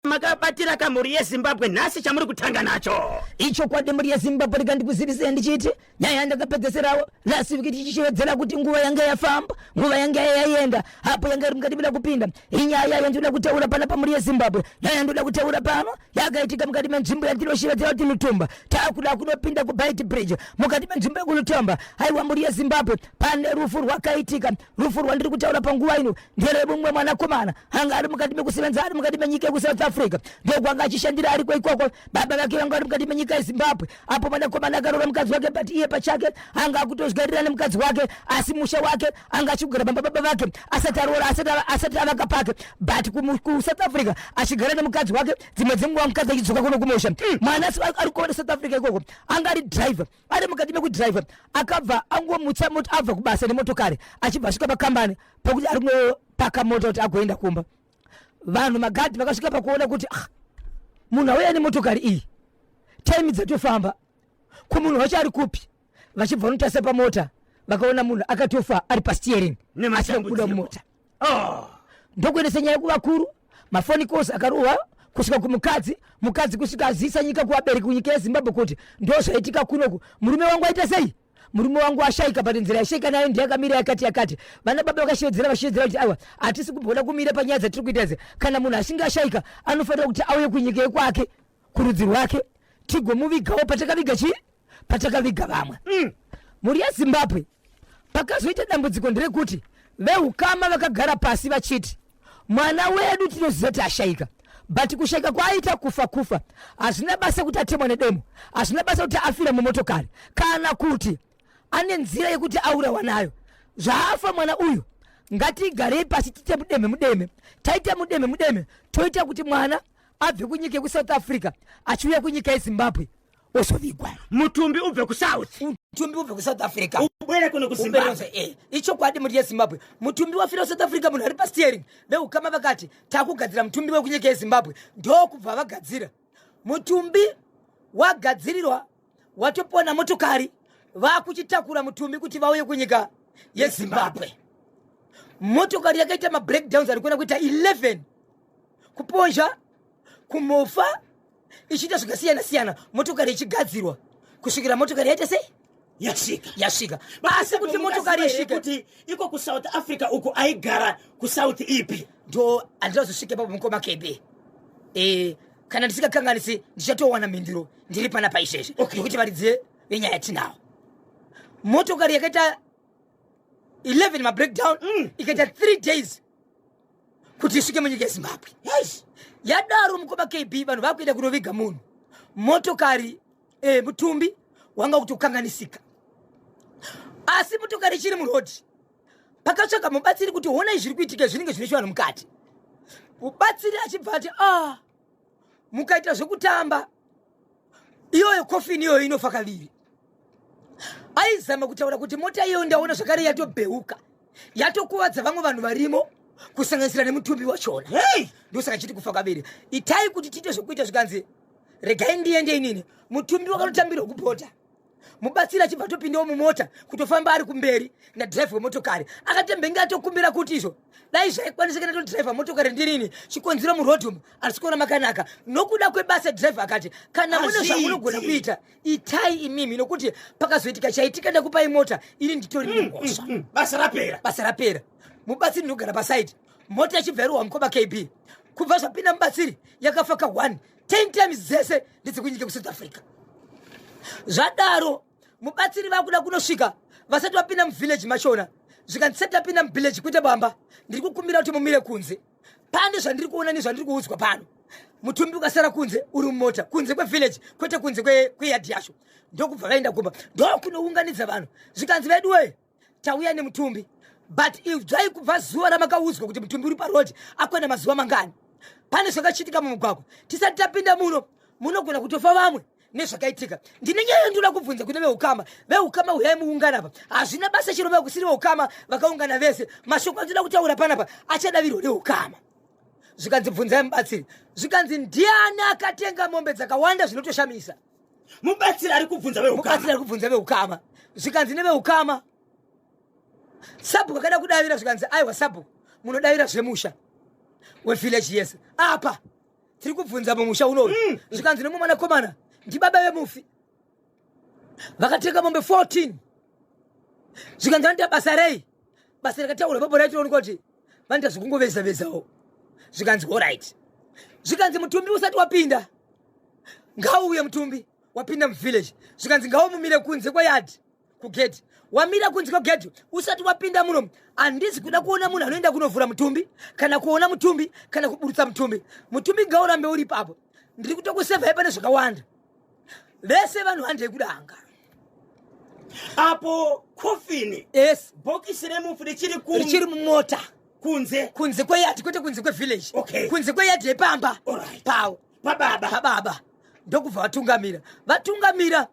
makabatira kamhuri yezimbabwe nhasi chamuri kutanga nacho ichokwadi mhuri yezimbabwe rika ndikuzivisei ndichiti nyaya yandakapedzeserawo last week tichichevedzera kuti nguva yanga yafamba nguva yanga yaienda apo yanga iri mukati vila kupinda inyaya yandinoda kutaura pana pamhuri yezimbabwe nyaya yandinoda kutaura pano yakaitika mukati menzvimbo yandinoshevedzera kuti nutumba takuda kunopinda kubite bridge mukati menzvimbo yekunutomba haiwa mhuri yezimbabwe pane rufu rwakaitika rufu rwandiri kutaura panguva ino nderemumwe mwanakomana anga ari mukati mekusevenza ari mukati menyika yekusouth africa ndokwanga achishandira ariko ikoko baba vake vanga vari mukati menyika yezimbabwe apo mwanakomana akaroora mukadzi wake but iye pachake anga akutozvigarira nemukadzi wake asi musha wake anga achigara bamba baba vake asati aroora asati avaka pake but kusouth africa achigara nemukadzi wake dzimwe dzenguva mukadzi achidzoka kuno kumusha hmm. mwana ari kuona south africa ikoko anga ari driver ari mukati mekudriver akabva angomutsa mot abva kubasa nemotokari achibva asvika pakambani pakuti ari kunopaka mota kuti agoenda kumba vanhu magadhi vakasvika pakuona kuti ah, munhu auya nemotokari iyi taimi dzatofamba ko munhu wacho ari kupi vachibva vanotarisa pamota vakaona munhu akatofa ari pasteering asikakuda mumota oh. ndokuendesa nyaya kuvakuru mafoni kosi akarova kusvika kumukadzi mukadzi kusvika azivisa nyika kuvabereki kunyika yezimbabwe kuti ndo zvaitika kunoku murume wangu aita sei murume wangu ashaika but nzira yashaika nayo ndiye akamira yakati yakati vana baba vakashevedzera vashevedzera kuti aiwa hatisi kugona kumira panyaya dzatiri kuita idzi kana munhu achinge ashaika anofanira kuti auye kunyika yekwake kurudzi rwake tigomuvigawo patakaviga chii patakaviga vamwe mm. mhuri yezimbabwe pakazoita dambudziko nderekuti veukama vakagara pasi vachiti mwana wedu tinoziva kuti ashaika but kushaika kwaaita kufa kufa hazvina basa kuti atemwa nedemo hazvina basa kuti afira mumotokari kana kuti ane nzira yekuti aurawa nayo zvaafa mwana uyu ngatigarei pasi tite mudeme mudeme taita mudeme mudeme toita kuti mwana abve kunyika yekusouth africa achiuya kunyika yezimbabwe ozovigwa mutumbi ubve kusouth mutumbi ubve kusouth africa ubwere kuno kuzimbabwe eh, ichokwadi muri yezimbabwe mutumbi wafira kusouth africa munhu ari pasteering veukama vakati takugadzira mutumbi wekunyika yezimbabwe ndokubva vagadzira mutumbi wagadzirirwa watopona motokari vakuchitakura mutumbi kuti vauye kunyika yezimbabwe motokari yakaita mabreakdowns ari kuona kuita 11 kupozha kumofa ichiita zvakasiyana siyana motokari ichigadzirwa kusvikira motokari yaita sei yasvika yasvika asi kuti motokari isvike kuti iko kusouth africa uku aigara kusouth ipi ndo handina zosvike papo mukoma kebe e, kana ndisingakanganisi ndichatowana mhinduro ndiri pana paizvezvi okay. nokuti varidzi venyaya tinawo motokari yakaita 11 mabreakdown mm. ikaita 3 days kuti isvike munyika yezimbabwe yes. yadaro mukoma kb vanhu vakuenda kunoviga munhu motokari eh, mutumbi wanga kuti kukanganisika asi motokari ichiri murodi pakatsvaga mubatsiri kuti honai zviri kuitika zvinenge zvine chivanhu mukati mubatsiri achibva ati ah mukaita zvekutamba iyoyo kofini iyoyo inofa kaviri aizama kutaura kuti mota iyoyo ndaona zvakare yatobheuka yatokuvadza vamwe vanhu varimo kusanganisira nemutumbi wachona hey! ndosaka chiti kufa kaviri itai kuti tiite zvekuita zvikanzi regai ndiende inini mutumbi wakanotambirwa kupota mubatsiri achibva atopindawo mumota kutofamba ari kumberi nadhiraivha wemotokari akatembenge atokumbira kuti izvo dai zvaikwanisika natodhiraivha motokari ndirini chikonzero muroad umu asi kuona makanaka nokuda kwebasa dhiraivha akati kana mune zvamunogona kuita itai imimi nokuti pakazoitika chaitika ndakupai mota ini nditori mm, nemhosva mm, mm. basa rapera basa rapera mubatsiri ndinogara pasaidi mota yachibva yarohwa mukoma kb kubva zvapinda mubatsiri yakafa ka one 10 times dzese ndedzekunyika kusouth africa zvadaro mubatsiri vakuda kunosvika vasati vapinda muvillage machona zvikanzi sati tapinda muvillage kuita bamba ndiri kukumbira kuti mumire kunze pane zvandiri kuona nezvandiri kuudzwa pano mutumbi ukasara kunze uri mumota kunze kwevillage kwete kunze kweyadhi yacho ndokubva vaenda kumba ndokunounganidza vanhu zvikanzi veduwee tauya nemutumbi but idzvai kubva zuva ramakaudzwa kuti mutumbi uri parodi akwana mazuva mangani pane zvakachitika mumugwagwa tisati tapinda muno munogona kutofa vamwe nezvakaitika ndine nyaya yandinoda kubvunza kune veukama veukama huyai muungana pa hazvina basa chero vakusiri veukama vakaungana vese mashoko andinoda kutaura panapa achadavirwa neukama zvikanzi bvunzai mubatsiri zvikanzi ndiani akatenga mombe dzakawanda zvinotoshamisa mubatsiri ari kubvunza vemubatsiri ari kubvunza veukama zvikanzi neveukama sabhuku akada kudavira zvikanzi aiwa sabhuku munodavira zvemusha wevillage yese apa tiri kubvunza mumusha unoyu mm. zvikanzi nemumwe mwanakomana ndibaba vemufi vakatenga mombe 14 zvikanzi vanoita basa rei basa rakataura baba racho rinoonekwa kuti vanoita zvekungoveza vezawo zvikanzi horit zvikanzi mutumbi usati wapinda ngauuye mutumbi wapinda muvillage zvikanzi ngaumumire kunze kweyadhi kugedhi wamira kunze kwegedhi usati wapinda muno handisi kuda kuona munhu anoenda kunovhura mutumbi kana kuona mutumbi kana kuburutsa mutumbi mutumbi ngaurambe uri ipapo ndiri kutokusevhai pane zvakawanda vese vanhu handei kudanga apo kofini yes bhokisi remufi richiri ku richiri mumota kunze kunze kweyadhi kwete kunze kwevillage Okay. kunze kweyadhi yepamba Alright. pawo pababa pababa ndokubva vatungamira vatungamira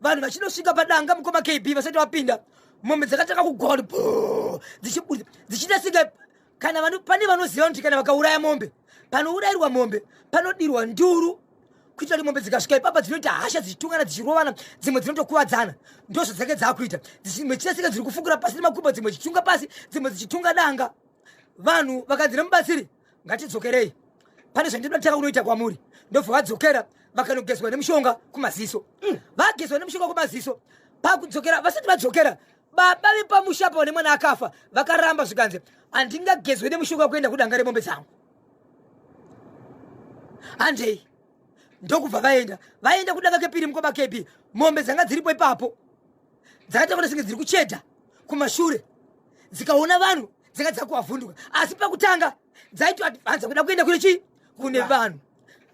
vanhu vachinosvika padanga mukoma kb vasati vapinda mombe dzakatanga kugona bho, dzichibuda dzichiita senge kana vano, pane vanoziva kuti kana vakauraya mombe panourayirwa mombe panodirwa nduru kuitira kuti mombe dzikasvika ipapa dzinoita hasha dzichitungana dzichirovana dzimwe dzinotokuvadzana ndozvo dzake dzaakuita dzimwe chichasika dziri kufukura pasi nemakumbo dzimwe dzichitunga pasi dzimwe dzichitunga danga vanhu vakanzi nemubatsiri ngatidzokerei pane zvandinoda kutanga kunoita kwamuri ndobva vadzokera vakanogezwa nemushonga kumaziso mm. vagezwa nemushonga kumaziso pakudzokera vasati vadzokera baba vepamusha apa vane mwana akafa vakaramba zvikanzi handingagezwe nemushonga kuenda kudanga remombe dzangu handei ndokubva vaenda vaenda kudanga kepiri mukoma kb mombe dzanga dziripo ipapo dzakataura senge dziri kuchedha kumashure dzikaona vanhu dzanga dzakuvavhunduka asi pakutanga dzaitoadvanza kuda kuenda kune chii kune vanhu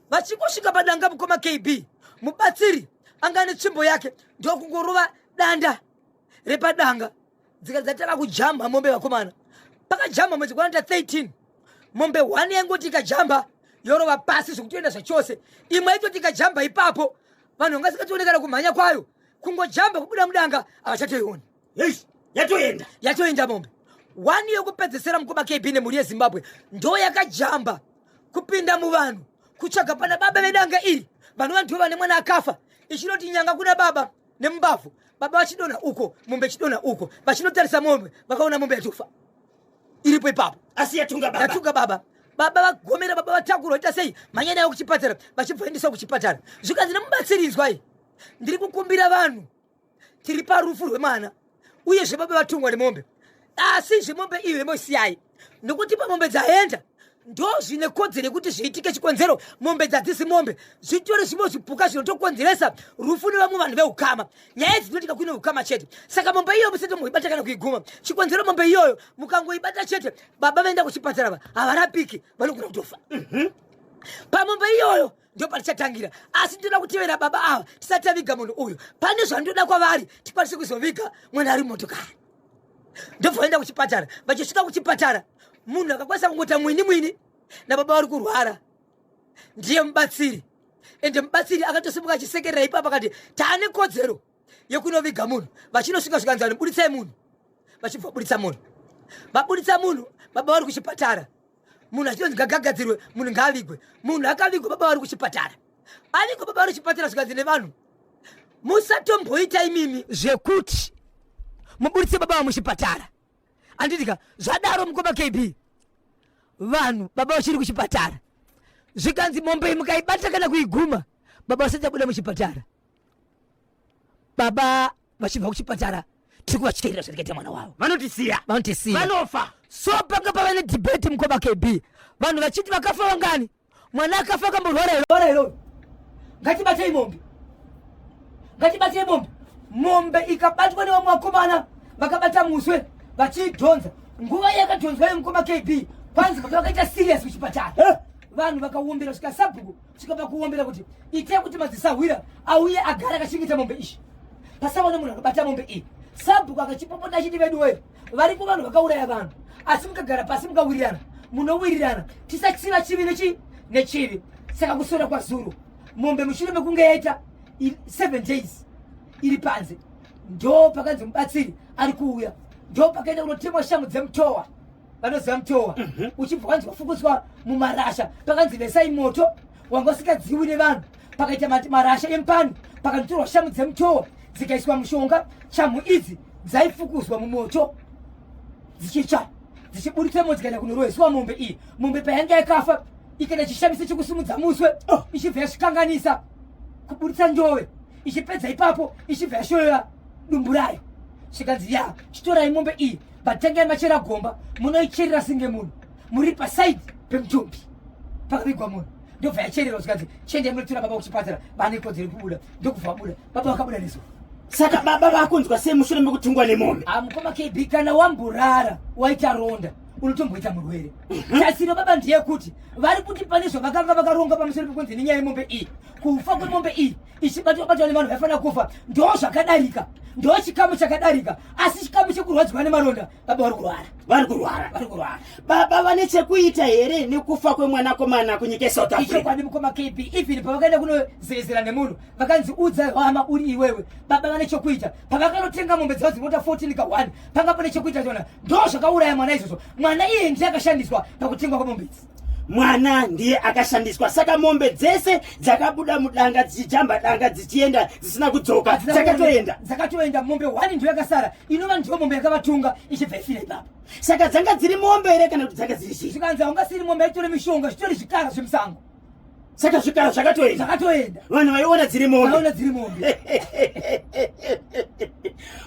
vachingosvika padanga mukoma kb mubatsiri anga ane tsvimbo yake ndokungorova danda repadanga dzika dzatanga kujamba mombe vakomana pakajamba mwedzi kwanata 13 mombe one yaingoti ikajamba yorova pasi zvekutoenda zvachose imwe yaitoti ikajamba ipapo vanhu vanga sikationekana kumhanya kwayo kungojamba kubuda mudanga havachatoioni yatoenda yatoenda mombe one yokupedzesera mukoma kb nemhuri yezimbabwe ndo yakajamba kupinda muvanhu kutsvaga pana baba vedanga iri vanova ndivo vane mwana akafa ichinoti nyanga kuna baba nemumbavhu baba vachidonha uko mombe chidonha uko vachinotarisa mombe vakaona mombe yatofa iripo ipapo asi yatunga baba yatunga baba baba vagomera baba vatakura vaita sei mhanya nayo kuchipatara vachibva vaendesa kuchipatara zvikanzi nemubatsiridzwai ndiri kukumbira vanhu tiri parufu rwemwana uye zvebaba vatungwa nemombe asi zvemombe iyo yemoisiyai nokuti pamombe dzaenda ndo zvine kodzero yekuti zviitike chikonzero mombe dzadzisi mombe zvitori zvimwe zvipuka zvinotokonzeresa rufu nevamwe vanhu veukama nyaya idzi dzinotika kuine ukama chete saka mombe iyoyo musati muibata kana kuiguma chikonzero mombe iyoyo mukangoibata chete baba vaenda kuchipatara va havarapiki vanogona kutofa mhm. pamombe iyoyo mm -hmm ndo patichatangira asi ndinoda kutevera baba ava tisati taviga munhu uyu pane zvandoda kwavari tikwanise kuzoviga mwana ari motokari ndobva vaenda kuchipatara vachisvika kuchipatara munhu akakwanisa kungota mwini mwini nababa vari kurwara ndiye mubatsiri ende mubatsiri akatosimuka achisekerera ipapa akati taane kodzero yekunoviga munhu vachinosvika zvikanzani buditsai munhu vachibva buditsa munhu vabuditsa munhu baba vari kuchipatara munhu achinonzi gagagadzirwe munhu ngaavigwe munhu akavigwa baba vari kuchipatara avigwa baba vari kuchipatara zvikanzi nevanhu musatomboita imimi zvekuti muburitse baba vamuchipatara anditika zvadaro mukoma kb vanhu baba vachiri kuchipatara zvikanzi mombe mukaibata kana kuiguma baba vasati abuda muchipatara baba vachibva kuchipatara tiri kuvatyerera zvirikaita mwana wavo vanotisiya vanotisiya vanofa so panga pava nedhibheti mukoma kb vanhu vachiti vakafa vangani mwana akafa akamborwara irora iroro ngatibatei mombe ngatibatei mombe mombe ikabatwa nevamwe vakomana vakabata muswe vachiidhonza nguva yakadhonzwa yemukoma kb kwanzi kuti vakaita serious kuchipatara eh? vanhu vakawombera svika sabhuku kusvika pakuombera kuti itai kuti madzisahwira auye agara akachengeta mombe izvi pasaona munhu akabata mombe iyi sabhuku akachipopota achiti vedu wee varipo vanhu vakauraya vanhu asi mukagara pasi mukawirirana munowirirana tisachiva chivi nechi nechivi saka kusora kwazuro mombe mushure mekunge yaita seven days iri panze ndo pakanzi mubatsiri ari kuuya ndo pakaenda kunotemwa shamhu dzemutowa vanoziva mutowa mhm. uchibva kwanzi wafukudzwa mumarasha pakanzi vesai moto wanga usikadziwi nevanhu pakaita marasha empani pakanditorwa shamu dzemutowa dzikaiswa mushonga chamu idzi dzaifukuzwa mumoto dzichitsva dzichiburitsa mo dzikaenda kunoroyesiwa mombe iyi mombe payanga yakafa ikaita chishamisa chekusimudza muswe oh. ichibva yasvikanganisa kuburitsa njove ichipedza ipapo ichibva yashoyora dumbu rayo zvikanzi ya chitorai mombe iyi but tangai machera gomba munoicherera singe munhu muri pasaidi pemutumbi pakavigwa munhu ndobva yachererwa zvikanzi chiendai munotora baba kuchipatara bane kodzero kubuda ndokubva vabuda baba vakabuda neso saka baba vakunzwa sei mushure mekutungwa nemombe ah, mukoma kb kana wamborara waita ronda unotomboita murwere mhm. tasiro baba ndeyekuti vari kuti pane zvavakanga vakaronga pamusoro pekunzi nenyaya yemombe iyi kufa kwemombe iyi ichibatwa batwa nevanhu vaifanira kufa ndo zvakadarika ndo chikamu chakadarika asi chikamu chekurwadziwa nemaronda baba vari kurwara vari kurwara vari kurwara baba vane chekuita here nekufa kwemwanakomana kunyika esouth africa ichokwadi mukoma kb even pavakaenda kunozerezera nemunhu vakanzi udza hama uri iwewe baba vane chekuita pavakanotenga mombe dzavo dzinota 14 ka 1 panga pane chekuita chona ndo zvakauraya mwana izvozvo mwana iye ndiye akashandiswa pakutengwa kwemombe idzi mwana ndiye akashandiswa saka mombe dzese dzakabuda mudanga dzichijamba danga dzichienda dzisina kudzoka dzakatoenda dzakatoenda mombe one ndiyo yakasara inova ndiyo mombe yakavatunga ichibva ifira ipapo saka dzanga dziri mombe here kana kuti dzanga dziri zii zvikanzi haungasiri mombe yaitore mishonga zvitori zvikara zvemusango saka zvikara zvakatoenda zvakatoenda vanhu vaiona dziri mombe dziri mombe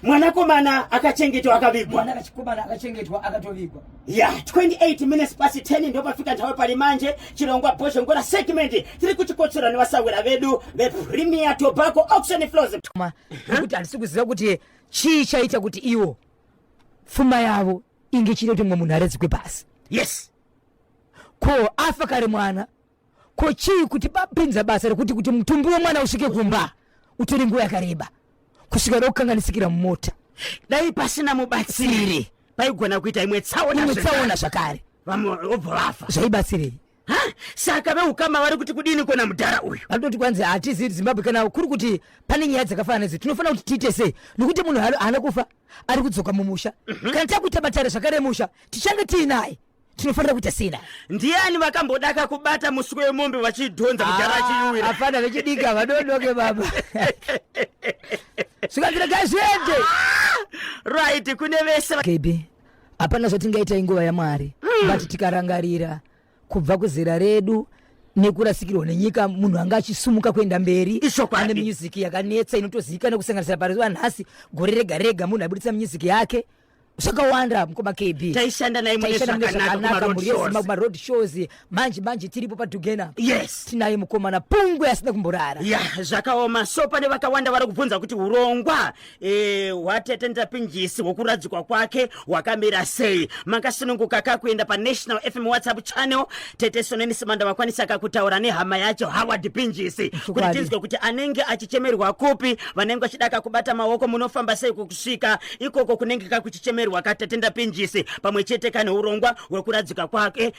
mwanakomana akachengetwa akavigwa mwanakomana akachengetwa akatovigwa ya 28 minutes pasi 10 ndo pafika nthawe pali manje chirongwa bhozho ngora segment tiri kuchikotsora nevasahwira vedu vepremier tobacco auction flows kuti handisi kuziva kuti chii chaita kuti iwo pfuma yavo inge chiri kuti mumwe munhu aredzikwe pasi yes ko afa kare mwana ko chii kuti bapinza basa rekuti kuti mutumbi wemwana usvike kumba utore nguva yakareba kusvika rokukanganisikira mumota dai pasina mubatsiri paigona kuita imwe tsaona imwe tsaona zvakare vamwe vobva vafa zvaibatsirei ha saka veukama vari kuti kudini kona mudhara uyu vanototi kwanzi hatizivi zimbabwe kana kuri kuti pane nyaya dzakafanana nedzi tinofanira kuti tiite sei nokuti munhu haana kufa ari kudzoka mumusha mhm. kana takuita matare zvakare musha tichange tiinaye tinofanira kuita sina ndiani vakambodaka kubata musiko wemombe vachidhonza mudhara ah, achiuira hapana vechidika vadodoke baba zvikanzira gazviende ah! right kune vese kb hapana zvatingaita inguva yamwari mm. but tikarangarira kubva kuzera redu nekurasikirwa nenyika munhu anga achisumuka kuenda mberi ane music yakanetsa inotozivikanwa kusanganisira paruva nhasi gore rega rega munhu aibudisa music yake zvakawanda mukoma kb taishanda naye mune zvakanaka kumaroad shows manje manje tiripo padhugena apa yes tinaye mukomana pungwe asina kumborara ya zvakaoma so pane vakawanda vari kubvunza kuti urongwa eh, hwatete ndapinjisi hwokuradzikwa kwake hwakamira sei makasununguka ka kuenda panational fm whatsapp channel tete soneni simanda vakwanisa ka kutaura nehama yacho howard pinjisi kuti Chokwadi. tinzwe kuti anenge achichemerwa kupi vanenge vachida ka kubata maoko munofamba sei kukusvika ikoko kunenge ka kuchichemerwa ka tete ndapinjisi pamwe chete ka neurongwa hwekuradzika kwake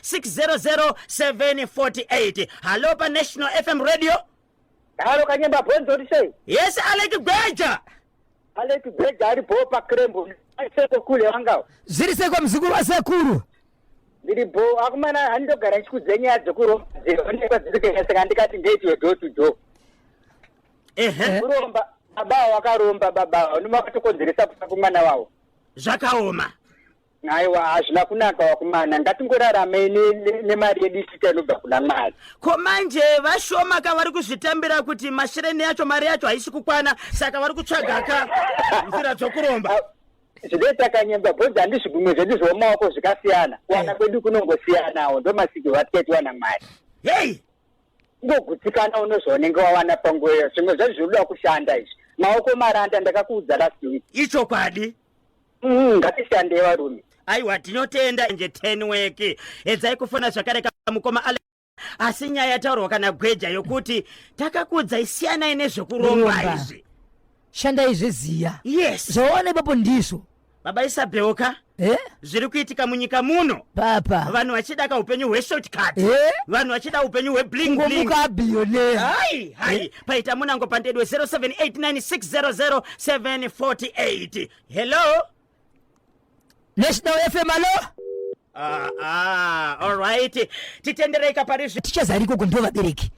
600748 halo panational fm radio halo kanyemba bhonzi oti sei yes aleki gweja aleki gweja ari bhoo pakrembo aiseko kule wangawo zviri seko muzukuru wasekuru ndiri bhoo akumana handogara ndichikudze nyaya dzekuroonekwa dziri kueseka ndikati ndeitiwe do to do ehe kuromba baba wakaromba baba vanomavatokonzeresa kufa kumwana wavo zvakaoma Aiwa hazvina kunaka wakumana ngatingoraramei nemari yedu isika inobva kuna mwari ko manje vashoma ka vari kuzvitambira kuti mashireni yacho mari yacho haisi kukwana saka vari kutsvaga ka nzira dzokuromba zvidee takanyemba bhozi handizvi gumwe zvedu zvomaoko zvikasiyana kuwana eh. kwedu kunongosiyanawo ndomasiki vatikaitiwana mwari hei ngogutsikana unozvaunenge wawana panguva iyo zvimwe zvacho zvinoda kushanda izvi maoko maranda ndakakuudza last week ichokwadi Mm, ngatishandei varume aiwa tinotenda nje ten weki edzai kufona zvakare kamukoma ale asi nyaya yataurwa kana gweja yokuti takakudzai siyanai nezvekuromba Kuromba. izvi shandai zveziya yes zvaona ipapo ndizvo baba isabheuka eh? zviri kuitika munyika muno papa vanhu vachida ka upenyu hweshortcut Eh? vanhu vachida upenyu hwebling bling kungomuka abhiyoneya hai hai paita munango pandedwe 0789600748 hello national fm alo ah, ah, alright titendereika parizvi tichazari ikoko ndo vabereki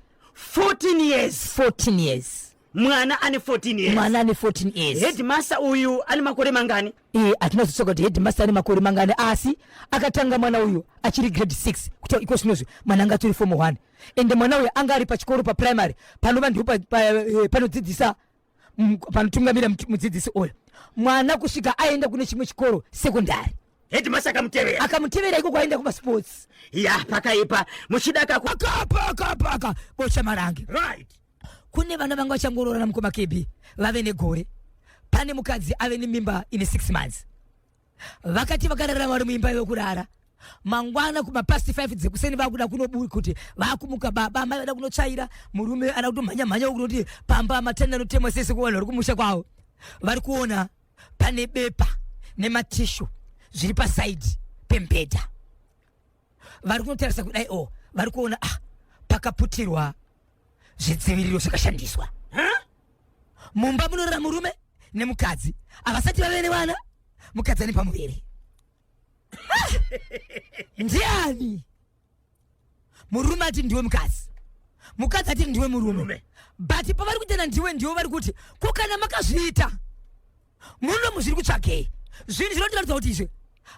14 years 14 years mwana ane 14 years mwana ane 14 years headmaster uyu ane makore mangani eh atina zotsoka kuti headmaster ane makore mangani asi akatanga mwana uyu achiri grade 6 kuti iko sinozvi mwana anga turi form 1 ende mwana uyu anga ari pachikoro paprimary panova ndipo eh, panodzidzisa mm, panotungamira mudzidzisi uyu mwana kusvika aenda kune chimwe chikoro sekondari hedimasa akamutevera akamutevera iko kwaenda kumasports ya pakaipa muchidakakapakapaka bocha marange right kune vana vanga vachangoroorana mukoma kebi vave negore pane mukadzi ave nemimba ine six months vakati vakarara vari muimba yokurara mangwana kumapasti 5 dzekuseni vakuda kunobuda kuti vakumuka baba amai vada kunotsvaira murume ada kutomhanya mhanya ukunoti pamba matanda anotemwa sese kuvanhu vari kumusha kwavo vari kuona pane bepa nematishu zviri pasaidi pembedha vari kunotarisa kudai o oh, vari kuona ah, pakaputirwa zvidziviriro zvakashandiswa mumba munorara murume nemukadzi havasati vave nevana mukadzi ane pamuviri ah! ndiani murume ati ndiwe mukadzi mukadzi ati ndiwe murume but pavari kutenda ndiwe ndiwo vari kuti ko kana makazviita munomu zviri kutsvakei zvinhu zvinotiratidza kuti izvi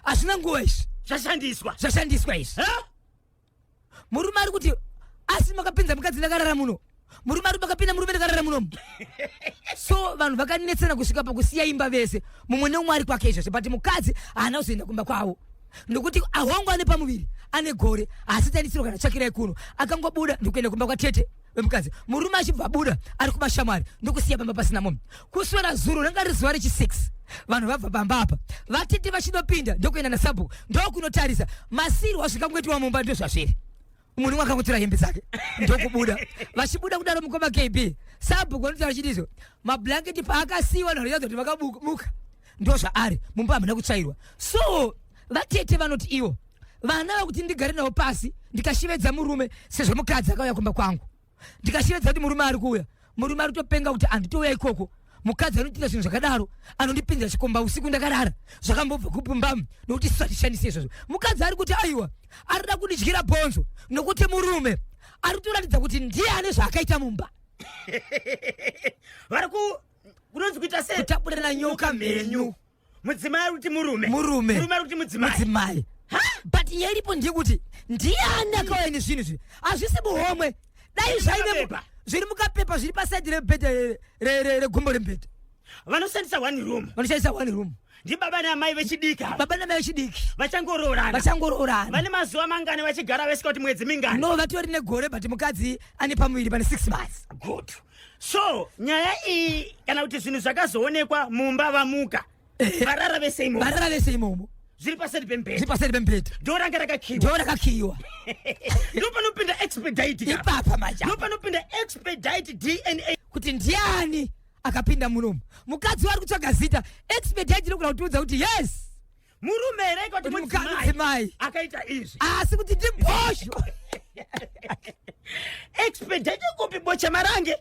hazvina nguva izvi zvashandiswa zvashandiswa izvi murume ari kuti asi makapinza mukadzi ndakarara muno murume ari makapinda murume ndakarara munomu so vanhu vakanetsana kusvika pakusiya imba vese mumwe neumwe ari kwake izvozvo but mukadzi haana kuzoenda kumba kwavo nokuti ahwangu ane pamuviri ane gore haasitanisiro kana tsvakirai kuno akangobuda ndikuenda kumba kwatete vemukadzi murume achibva abuda ari kumashamwari ndokusiya pamba pasina munhu kuswera zuro ranga riri zuva rechi 6 vanhu vabva pamba apa vatete vachinopinda ndokuenda nasabhuku ndokunotarisa masirwa azvinga kungoitiwa mumba ndozvazviri munhu umwe akangotora hembe dzake ndokubuda vachibuda kudaro mukoma kb sabhuku vanotaura chiti izvo mablanketi paakasiyiwa vanhu vachadza kuti vakamuka ndozvaari mumba hamuna kutsvairwa so vatete vanoti ivo vana vakuti ndigare navo pasi ndikashevedza murume sezvo mukadzi akauya kumba kwangu ndikashevedza kuti murume ari kuuya murume ari kutopenga kuti anditouya ikoko mukadzi anotiita zvinhu zvakadaro anondipinzira chikomba usiku ndakarara zvakambobva kupumbamu nokuti isu hatishandise izvozvo mukadzi ari kuti aiwa arida kundidyira bhonzo nokuti murume ari kutoratidza kuti ndiye ane zvaakaita mumba vari ku kunonzi kuita sei kutapurirana nyoka mhenyu mudzimai ari kuti murume murume murume ari kuti mudzimai mudzimai but nyaya iripo ndiyekuti ndiani akauya nezvinhu izvi hazvisi muhomwe dai zvaive zviri mukapepa zviri pasaidi rebhedha regumbo rembhedha vanoshandisa one room vanoshandisa one room ndibaba neamai vechidika baba neamai vechidiki vachangoroorana vachangoroorana vane mazuva mangani vachigara vesika kuti mwedzi mingani no vatori negore but mukadzi ane pamuviri pane six months good so nyaya iyi kana kuti zvinhu zvakazoonekwa mumba vamuka eh, varara vese imomo varara vese imomo zviri paseri pembhedha zviri paseri pembhedha dhoo ranga rakakiwa dhoo rakakiwa ndopanopinda expedite ipapa maja ndopanopinda expedite dna kuti ndiani akapinda munomu mukadzi wari kutsvaga zita expedite inokuda kutiudza kuti yes murume here ikoti mudzimai akaita izvi asi kuti ndibhosho expedite kupi bocha marange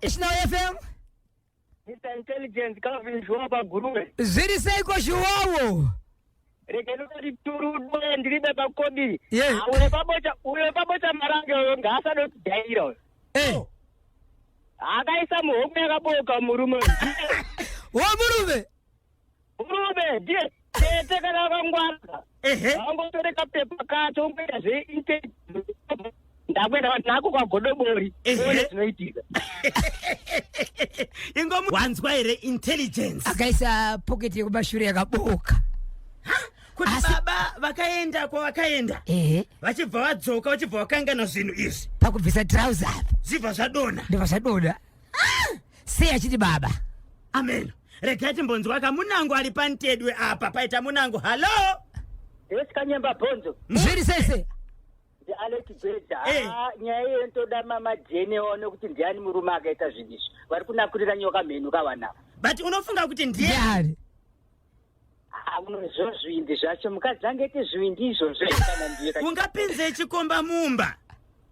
national fm mr intelligence kavizhuwa paguruve zviri seiko zhuwawo Rega ndikuturude ndiribe pakodi. Yeah. Ah, Ule pabocha ule pabocha marange uyo ngaasado kudaira uyo. Eh, Oh. Akaisa muhope yakaboka murume. wamurume Murume ndiye tete kana akangwara. Ehe. Wangotoreka pepa kacho ungoita zve inte. ndakuenda vanhu nako kwagodobori Ehe. one dzinoitika ingomu wanzwa here intelligence akaisa pocket yekumashure yakabooka kuti Asi- baba vakaenda kwavakaenda ehe vachibva vadzoka vachibva vakangana zvinhu izvi pakubvisa trouser apa zvibva zvadonha ndibva zvadoda sei achiti baba amen regai timbonzwa ka munango ari pantedwe apa paita munango hallo yes kanyemba bhonzo zviri sese Alex Bhedha hey. Ah, nyaya iyo ndoda mama Jane one kuti ndiani murume akaita zvinhu izvi vari kunakurira nyoka mhenu kavanava but unofunga kuti ndiani amunozvo ah, zvivindi zvacho mukadzi angaite zvivindi izvozvo kana ndiye ungapinze chikomba mumba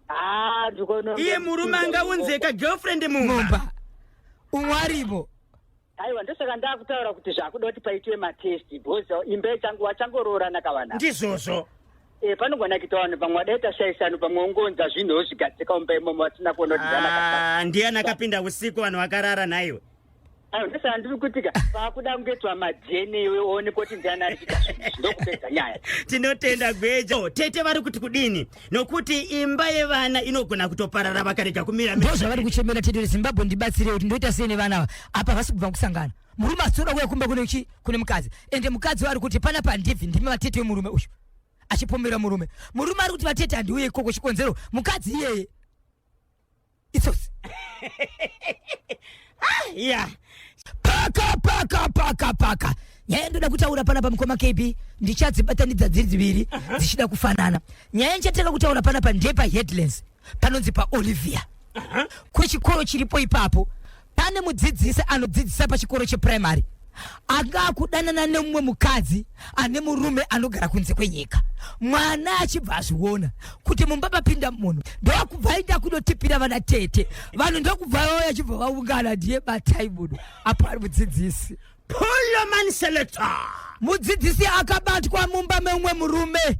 ah, iye murume angaunzeka girlfriend mumba umwe aripo aiwa ndosaka ndakutaura kuti zvakuda kuti paitwe matest because imba yechangu wachangoroorana kavana ndizvozvo e, panogona kuita vanhu pamwe wadaita shaisano pamwe ungonza zvinhu wozvigadzika umba imomo vasina kuona kuti Ah, ndiani akapinda usiku vanhu vakarara nhaiwe aiwa ndosaka ndiri kutika vakuda kungoitwa madna iwe uone kuti ndiani ari kuita zvinhu izvi, ndokupedza nyaya tinotenda gweja Oh, tete vari kuti kudini nokuti imba yevana inogona kutoparara vakarega kumira ndo zvavari kuchemera tete rezimbabwe ndibatsire kuti ndoita sei nevana ava apa havasi kubva kusangana murume asitoda kuya kumba kune chi kune mukadzi ende mukadzi waari kuti pana pandibvi ndimi vatete wemurume uyu achipomera murume murume ari kuti vatete handiuye ikoko chikonzero mukadzi iyeye itsotsi ah, yeah. paka paka paka paka nyaya ndoda kutaura pana pamukoma kb ndichadzibatanidza dziri dziviri dzichida kufanana nyaya ndichatanga kutaura pana pandepa headlands panonzi paolivia kwechikoro chiripo ipapo pane mudzidzisi anodzidzisa pachikoro chepuraimari anga akudanana nemumwe mukadzi ane murume anogara kunze kwenyika mwana achibva azviona kuti mumba mapinda munhu ndokubva aita kunotipira vana tete vanhu ndokubva vauya achibva vaungana ndiye batai munhu apo ari mudzidzisi Poloman Selector. Mudzidzisi akabatwa mumba meumwe murume.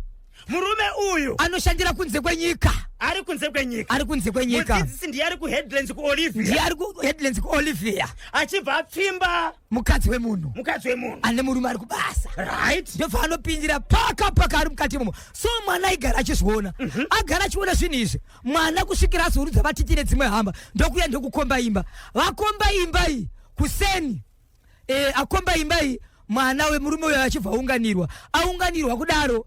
Murume uyu anoshandira kunze kwenyika. Ari kunze kwenyika. Ari kunze kwenyika. Mudzidzisi ndiye ari kuHeadlands kuOlivia. Ndiye ari kuHeadlands kuOlivia. Achibva apfimba mukadzi wemunhu. Mukadzi wemunhu. Ane murume ari kubasa. Right. Ndobva anopindira paka paka ari mukati imomo. So mwana aigara achizviona. Mm -hmm. Agara achiona zvinhu izvi. mwana kusvikira azourudza vatiti nedzimwe hamba ndokuya ndokukomba imba vakomba imba iyi kuseni e, akomba imba iyi mwana wemurume uyo achibva aunganirwa aunganirwa kudaro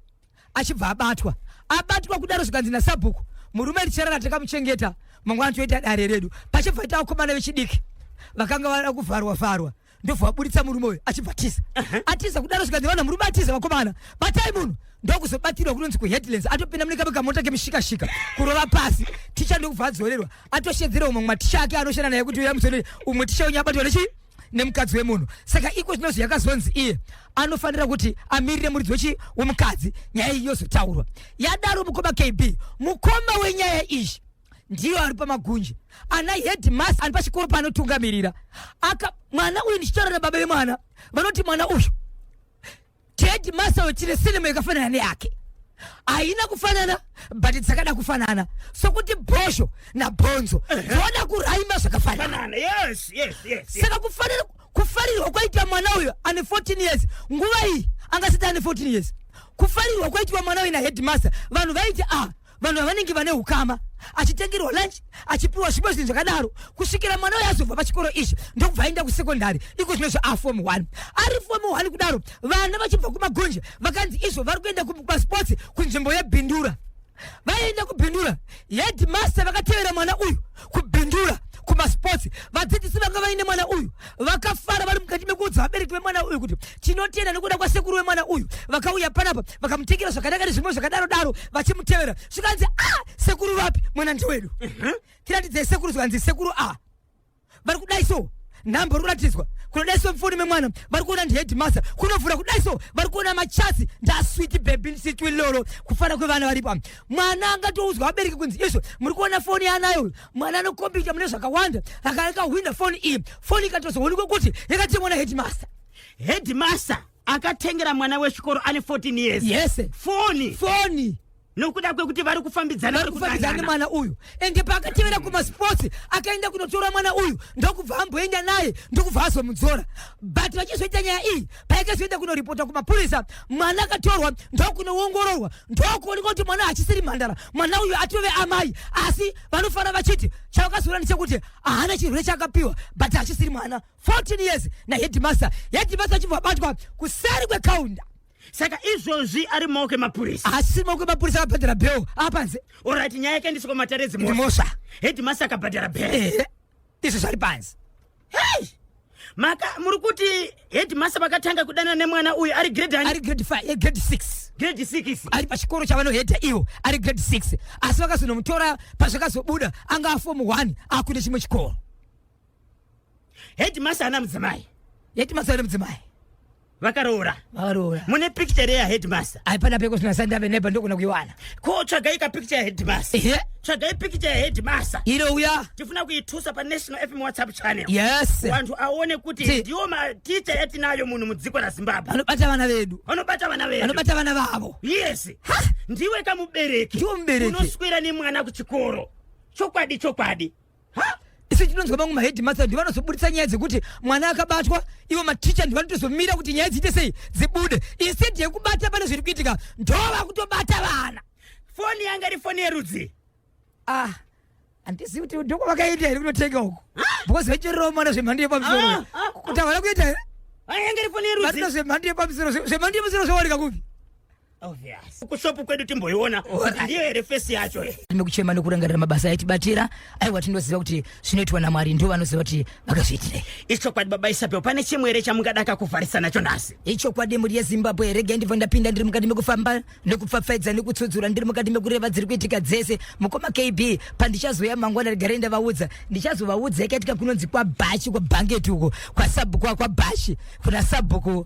achibva abatwa abatwa kudaro zvikanzi nasabhuku murume richarara takamuchengeta mangwana toita dare redu pachibva ita vakomana vechidiki vakanga vada kuvharwa vharwa ndobva vaburitsa murume uyu achibva tiza atiza kudaro zvikanzi vana murume atiza vakomana batai munhu ndokuzobatirwa kunonzi kuheadlands atopinda mune kame kamota kemishikashika kurova pasi ticha ndokubva adzorerwa atoshedzera umwe maticha ake anoshanda naye kuti uya muzonere umwe ticha wenyu abatwa nechii nemukadzi wemunhu saka iko zvinonzi yakazonzi iye anofanira kuti amirire muridzi wechi wemukadzi nyaya iyi yozotaurwa yadaro mukoma kb mukoma wenyaya iyi ndiyo ari pamagunje ana headmas ari pachikoro paanotungamirira aka mwana uyu ndichitaura nababa vemwana vanoti mwana uyu headmaster wechine sinema yakafanana neyake haina kufanana but dzakada kufanana sokuti bhozho nabhonzo dzoona kuraima zvakafanana saka kufanira kufarirwa kwaitwa mwana uyo ane 14 years nguva iyi angasati ane 14 years kufarirwa kwaitwa mwana uyo naheadmaster vanhu vaiti a ah, vanhu vavanenge vane ukama achitengerwa lunch achipiwa zvipo zvinhu zvakadaro kusvikira mwana uyo azobva pachikoro ichi ndokubva aenda kusekondari iko zvino zvaafom one ari fom one kudaro vana vachibva kumagonje vakanzi izvo vari kuenda kumasports kunzvimbo yebhindura vaenda kubhindura headmaster vakatevera mwana uyu kubindura kumasports vadzidzisi vanga vaine mwana uyu vakafara vari mukati mekuudza vabereki vemwana uyu kuti tinotenda nekuda kwasekuru wemwana uyu vakauya panapa vakamutengera zvakanaka nezvimwe zvakadaro daro vachimutevera zvikanzi ah sekuru vapi mwana ndiwedu mhm. tiratidzei sekuru zvikanzi sekuru a ah. vari kudai so nhamba ruratidzwa kunodai so mfoni memwana vari kuona ndiheadmaster kunovhura kudai so vari kuona machasi ndaswiti bebin sitwi lolo kufana kwevana varipo mwana angatoudzwa abereki kunzi izvo muri kuona foni yaanayo uyu mwana anokombita mune zvakawanda akaakahwinda foni iyi foni ikatozoonekwa kuti yakatengwa na headmaster headmaster akatengera mwana wechikoro ane 14 years yes foni foni nokuda kwekuti vari kufambidzana vari kufambidzana nemwana uyu ende paakatevera mm. kumasports akaenda kunotora mwana uyu ndokubva amboenda naye ndokubva azomudzora but vachizoita nyaya iyi paika zvienda kunoripota kumapurisa mwana akatorwa ndokunoongororwa ndokuoneka kuti mwana achisiri mhandara mwana uyu atove amai asi vanofanira vachiti chavakazoona ndechekuti haana chirwere chaakapiwa but achisiri mwana 14 years nahedimasta hedimasta achibva abatwa kuseri kwekaunda saka izvozvi ari maoko emapurisa haasisiri maoko emapurisa akabhadhara bheo apanze orit nyaya yakaendeswa kumatare edzimhosva hedimasta akabhadhara bhero izvi zvari panzi hey! maka muri kuti headmaster vakatanga kudanana nemwana uyu ari grade ari grade 5 eh, grade 6 grade 6 ari pachikoro chavanohedha ivo ari grade 6 asi vakazonomutora pazvakazobuda anga aform 1 akuine chimwe chikoro headmaster ana mudzimai headmaster ana mudzimai vakaroora vakaroora mune picture ya headmaster haipana peko sina sanda ve neba ndokuna kuiwana ko tsvagai ka picture ya headmaster ehe tsvagai picture ya headmaster iro uya tifuna kuitusa pa national fm whatsapp channel yes vantu aone kuti Ti- ndiwo ma teacher yatinayo munhu mudziko la zimbabwe vanobata vana vedu vanobata vana vedu vanobata vana vavo yes ndiwe kamubereki Ndiwe mubereki. unoswera nemwana kuchikoro chokwadi chokwadi Ha? isu tinonzwa vamwe maheadmaster ndi vanozoburitsa nyaya dzekuti mwana akabatwa ivo maticha ndi vanotozomira kuti nyaya dziite sei dzibude instead yekubata pane zviri kuitika ndo vakutobata vana foni yanga iri foni yerudzi ah handizivi kuti ndoko vakaita here kunotenga uko because vachererawo mwana zvemhando yepamusoro Ah, ah, ah. kuti havana kuita here Ah, yanga iri foni yerudzi vanina zvemhando yepamusoro zve- zvemhando yepamusoro zvawanika kupi Obvious. Kushopu kwedu timboiona kuti ndiyo here fesi yacho. Tinokuchema nokurangarira mabasa aitibatira aiwa tinoziva kuti zvinoitwa naMwari ndivo vanoziva kuti vakazviitire. Ichokwadi baba Isabel pane chimwe here chamungadaka kuvharisa nacho nhasi? Ichokwadi mhuri yeZimbabwe regai ndibva ndapinda ndiri mukati mekufamba nekupfapfaidza nekutsudzura ndiri mukati mekureva dziri kuitika dzese mukoma KB pandichazouya mangwana regarai ndavaudza ndichazovaudza ikaitika kunonzi kwabhachi kwabhangeti uko kwasabhuku kwabhachi kuna sabhuku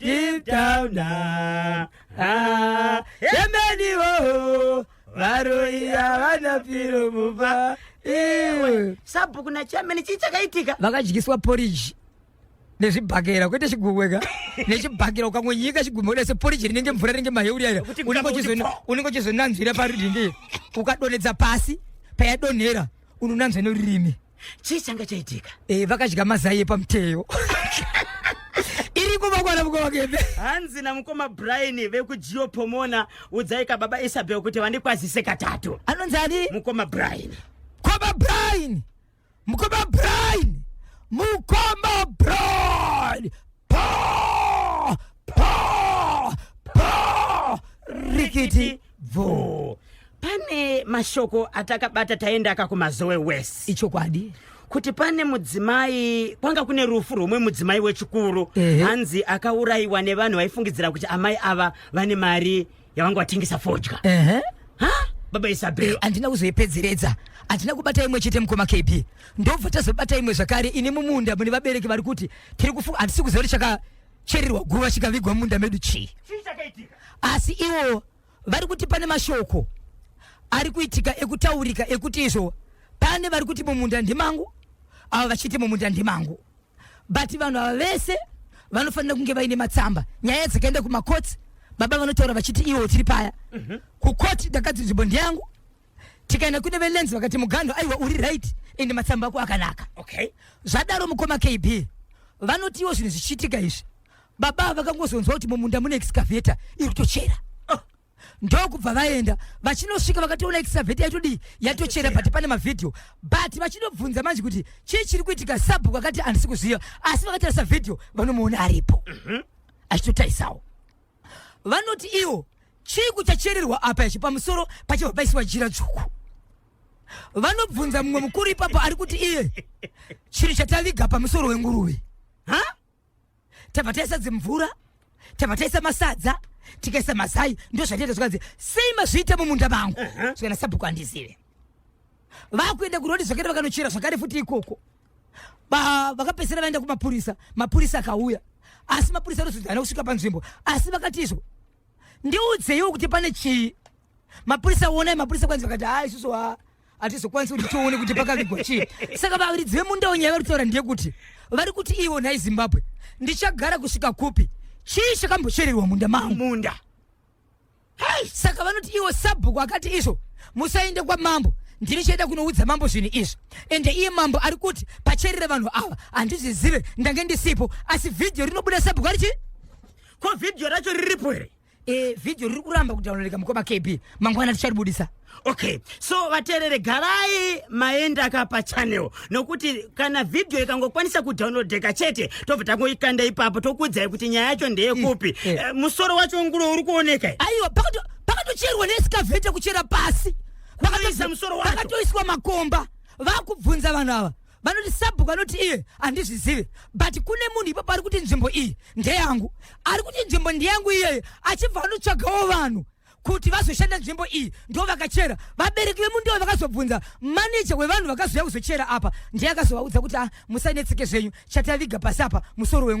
deep down ah, ah, yemeni woho varoyi havana piro mupa iwe sabhuku nachamene chii chakaitika vakadyiswa poriji nezvibhakera kwete chigumweka nechibhakera ukangonyika chigumwe kuda seporiji rinenge mvura rinenge maheuri aira Kuti unenge mukaka uchizo- uti unenge uchizonanzvira parudindi ukadonhedza pasi payadonhera unonanzva norurimi chii changa chaitika eh, vakadya mazai epamuteyo iriko vakwana mukowakebe hanzi namukoma brian vekujiopomona udzai ka baba isabel kuti vandikwazise katatu anonzi ani mukoma brian mukoma brian mukoma brian mukoma brian pa pa pa rikiti bvoo pane mashoko atakabata taenda aka kumazowe west ichokwadi kuti pane mudzimai kwanga kune rufu rwomwe mudzimai wechikuru Ehe. hanzi akaurayiwa nevanhu vaifungidzira kuti amai ava vane mari yavanga vatengesa fodya ehe ha baba Eh, isabel handina kuzoipedzeredza handina kubata imwe chete mukoma kb ndobva tazobata imwe zvakare ini mumunda mune vabereki vari kuti tiri kufunga handisi kuziva kuti chaka cherirwa guva chikavigwa munda medu chii asi iwo vari kuti pane mashoko ari kuitika ekutaurika ekuti izvo pane vari kuti mumunda ndimangu avo vachiti mumunda ndimangu but vanhu ava vese vanofanira kunge vaine matsamba nyaya dzakaenda kumakotsi baba vanotaura vachiti iwo tiri paya mhm. kukoti ndakati nzvimbo ndiyangu tikaenda kune velens vakati muganho aiwa uri right and matsamba ako akanaka okay zvadaro mukoma kb vanotiwo zvinhu zvichiitika izvi baba vakangozonzwa kuti mumunda mune excavator iri kutochera oh. ndokubva vaenda vachinosvika vakatoona excavator yatodii yatochera but pane mavhidhiyo but vachinobvunza manje kuti chii chiri kuitika sabhuku vakati handisi kuziva asi vakatarisa vhidhiyo vanomuona aripo mm -hmm. achitotarisao vanoti iwo chii kuchachererwa apa ichi pamusoro pachibva paisiwa jira dzvuku vanobvunza mumwe mukuru ipapo ari kuti iye chiri chataviga pamusoro wenguruve ha tabva taisa dzimvura tabva taisa masadza tikaisa mazai ndo zvatiita zvikanzi sei mazviita mumunda mangu zvikanasabhuku andizive vakuenda kurodi zvakare vakanochera zvakare futi ikoko ba vakapedzisira vaenda kumapurisa mapurisa akauya asi mapurisa anozodzana kusvika panzvimbo asi vakati izvo ndiudzeiwo kuti pane chii mapurisa wonai mapurisa kwanzi vakati haa isusu ha hatizokwanisi kuti tione kuti pakavigwa chii saka varidzi vemundawo nyaya vari kutaura ndeyekuti vari kuti ivo nhai zimbabwe ndichagara kusvika kupi chii chakambochererwa munda mangu munda saka vanoti iwo sabhuku akati izvo musaende kwamambo ndini chaida kunoudza mambo zvinhu izvi ende iye mambo ari kuti pacherere vanhu ava handizvizive ndange ndisipo asi vhidhiyo rinobuda sabhuku ari chii ko vhidhiyo racho riripo here e vhidhiyo riri kuramba kudownloadika mukoma kb mangwana ticharibudisa okay so vateerere garai maenda ka pachannel nokuti kana vhidhiyo ikangokwanisa kudownloadeka chete tobva tangoikanda ipapo tokuudzai kuti nyaya yacho ndeyekupi Eh, eh. Eh, musoro wacho ngulo uri kuoneka eh? aiwa pakato- pakatocherwa nesikavhete kuchera pasi Kunoisa musoro wacho. pakatoiswa makomba vakubvunza vanhu ava vanoti sabhuku anoti iye handizvizive but kune munhu ipapo ari kuti nzvimbo iyi ndeyangu ari kuti nzvimbo ndeyangu iyeye achibva anotsvagawo vanhu kuti vazoshanda nzvimbo iyi ndo vakachera vabereki vemu ndivo vakazobvunza maneja wevanhu vakazouya kuzochera apa ndiye akazovaudza kuti ah, musanetseke zvenyu chataviga pasi apa musoro wenguva